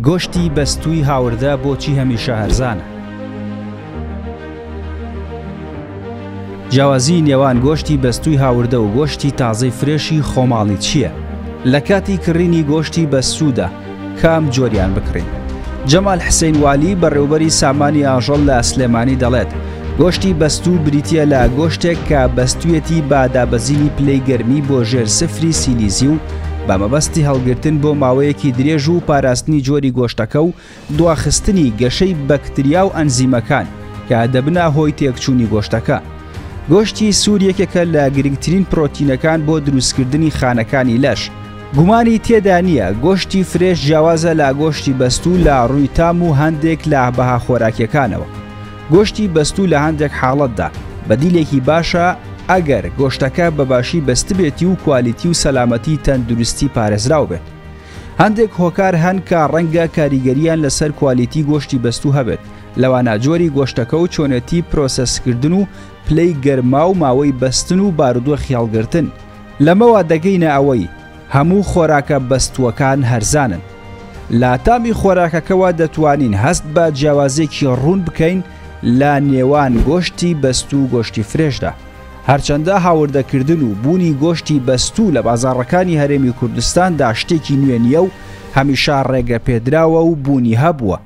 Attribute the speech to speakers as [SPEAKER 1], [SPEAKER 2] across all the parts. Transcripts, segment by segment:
[SPEAKER 1] گۆشتی بەستووی هاوردە بۆچی هەمیشە هەرزانە؟ جیاوازیی نێوان گۆشتی بەستووی هاوردە و گۆشتی تازەی فرێشی خۆماڵی چییە؟ لە کاتی کڕینی گۆشتی بەستوودا کام جۆریان بکڕین؟ جەمال حسەین والی، بەڕێوەبەری سامانی ئاژەڵ لە سلێمانی دەڵێت، گۆشتی بەستوو بریتییە لە گۆشتێک کە بەستویەتی با دابەزینی پلەی گەرمی بۆ ژێر سفری سیلیزی و بە مەبەستی هەڵگرتن بۆ ماوەیەکی درێژ و پاراستنی جۆری گۆشتەکە و دواخستنی گەشەی بەکتریا و ئەنزیمەکان کە دەبنە هۆی تێکچوونی گۆشتەکە. گۆشتی سوور یەکێکە لە گرنگترین پرۆتینەکان بۆ دروستکردنی خانەکانی لەش. گومانی تێدا نییە گۆشتی فرێش جیاوازە لە گۆشتی بەستوو لە ڕووی تام و هەندێک لە بەها خۆراکیەکانەوە. گۆشتی بەستوو لە هەندێک حاڵەتدا بەدیلێکی باشە ئەگەر گۆشتەکە بەباشی بەستبێتی و کوالیتی و سەلامەتی تەندروستی پارێزراو بێت. هەندێک هۆکار هەن کە ڕەنگە کاریگەریان لەسەر کوالیتی گۆشتی بەستوو هەبێت، لەوانە جۆری گۆشتەکە و چۆنێتی پرۆسەسکردن و پلەی گەرما و ماوەی بەستن و بارودۆخی هەڵگرتن. لەمەوە دەگەینە ئەوەی هەموو خۆراکە بەستووەکان هەرزانن. لە تامی خۆراکەکەوە دەتوانین هەست بە جیاوازیەکی ڕوون بکەین لە نێوان گۆشتی بەستوو و گۆشتی فرێشدا. هەرچەندە هاوردەکردن و بوونی گۆشتی بەستوو لە بازاڕەکانی هەرێمی کوردستاندا شتێکی نوێ نییە و هەمیشە ڕێگەپێدراوە و بوونی هەبووە،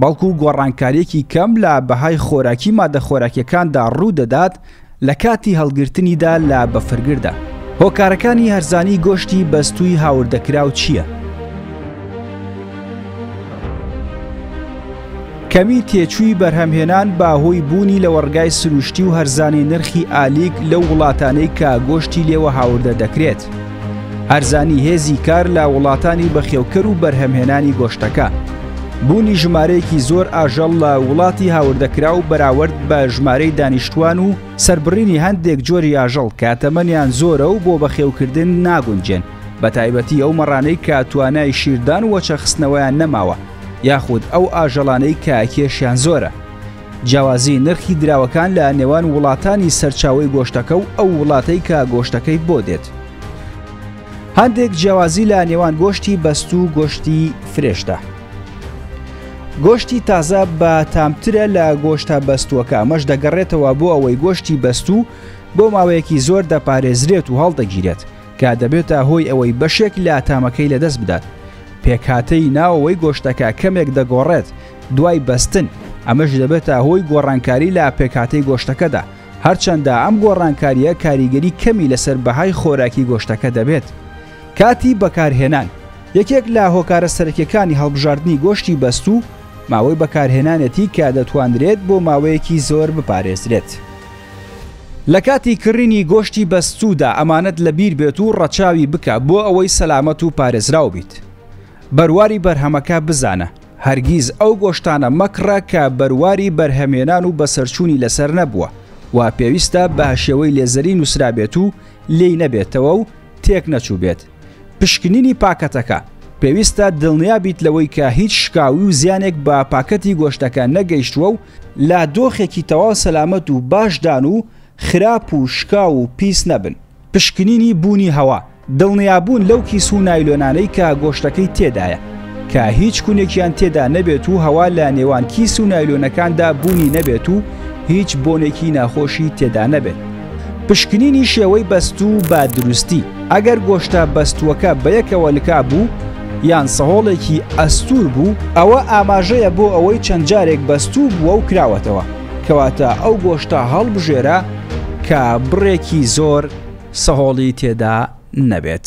[SPEAKER 1] بەڵکو گۆڕانکارییەکی کەم لە بەهای خۆراکی ماددە خۆراکییەکاندا ڕوودەدات لە کاتی هەڵگرتنیدا لە بەفرگردا. هۆکارەکانی هەرزانی گۆشتی بەستووی هاوردەکراو چییە؟ کەمی تێچووی بەرهەمهێنان بە هۆی بوونی لەوەڕگای سروشتی و هەرزانی نرخی ئالیک لەو وڵاتانەی کە گۆشتی لێوە هاوردە دەکرێت. هەرزانی هێزی کار لە وڵاتانی بەخێوکەر و بەرهەمهێنانی گۆشتەکە بوونی ژمارەیەکی زۆر ئاژەڵ لە وڵاتی هاوردەکرا و بەراورد بە ژمارەی دانیشتوان و سربڕینی هەندێک جۆری ئاژەڵ کە تەمەنیان زۆرە و بۆ بەخێوکردن ناگونجێن بە تایبەتی ئەو مەڕانەی کە توانای شیردان وەچەخستنەوەیان نەماوە یاخود ئەو ئاژەڵانەی کە کێشیان زۆرە جیاوازی نرخی دراوەکان لە نێوان وڵاتانی سەرچاوی گۆشتەکە و ئەو وڵاتەی کە گۆشتەکەی بۆ دێت. هەندێک جیاوازی لە نێوان گۆشتی بەست و گۆشتی فرێشتە. گۆشتی تازە بە تامترە لە گۆشتە بەستووەکە ئەمەش دەگەڕێتەوە بۆ ئەوەی گۆشتی بەستوو بۆ ماوەیەکی زۆر دەپارێزرێت و هەڵدەگیرێت کە دەبێتە هۆی ئەوەی بەشێک لە تامەکەی لەدەست بدات پێکهاتەی ناوەوەی گۆشتەکە کەمێک دەگۆڕێت دوای بەستن ئەمەش دەبێتە هۆی گۆڕانکاری لە پێکاتەی گۆشتەکەدا هەرچەندە ئەم گۆڕانکاریە کاریگەری کەمی لەسەر بەهای خۆراکی گۆشتەکە دەبێت کاتی بەکارهێنان یەکێک لە هۆکارە سەرکیەکانی هەڵبژاردننی گۆشتی بەست و ماوەی بەکارهێنانێتی کە دەتوانرێت بۆ ماوەیەکی زۆر بپارێزرێت. لە کاتی کڕینی گۆشتی بەستوودا ئەمانەت لە بیر بێت و ڕەچاوی بکە بۆ ئەوەی سەلامەت و پارێزراو بیت. بەرواری بەرهەمەکە بزانە هەرگیز ئەو گۆشتانە مەکڕە کە بەرواری بەرهەمێنان و بەسەرچوونی لەسەر نەبووە و پێویستە بهشێوەی لێزەری نووسرابێت و لێی نەبێتەوە و تێک نەچووبێت. پشکنینی پاکەتەکە، پێویستە دڵنیا بیت لەوەی کە هیچ شکاوی و زیانێک بە پاکەتی گۆشتەکە نەگەیشتووە و لە دۆخێکی تەواو سەلامەت و باشدان و خراپ و شکاو و پیس نەبن. پشکنینی بوونی هەوا، دڵنیابوون لەو کیس و نایلۆنانەی کە گۆشتەکەی تێدایە کە هیچ کونێکیان تێدا نەبێت و هەوا لە نێوان کیس و نایلۆنەکاندا بوونی نەبێت و هیچ بۆنێکی ناخۆشی تێدا نەبێت. پشکنینی شێوەی بەستوو بە دروستی، ئەگەر گۆشتە بەستووەکە بەیەکەوە لکا بوو یان سەهۆڵێکی ئەستوور بوو، ئەوە ئاماژەیە بۆ ئەوەی چەند جارێک بەستوو بووە و کراوەتەوە. کەواتە ئەو گۆشتە هەڵبژێرە کە بڕێکی زۆر سەهۆڵی تێدا نەبێت.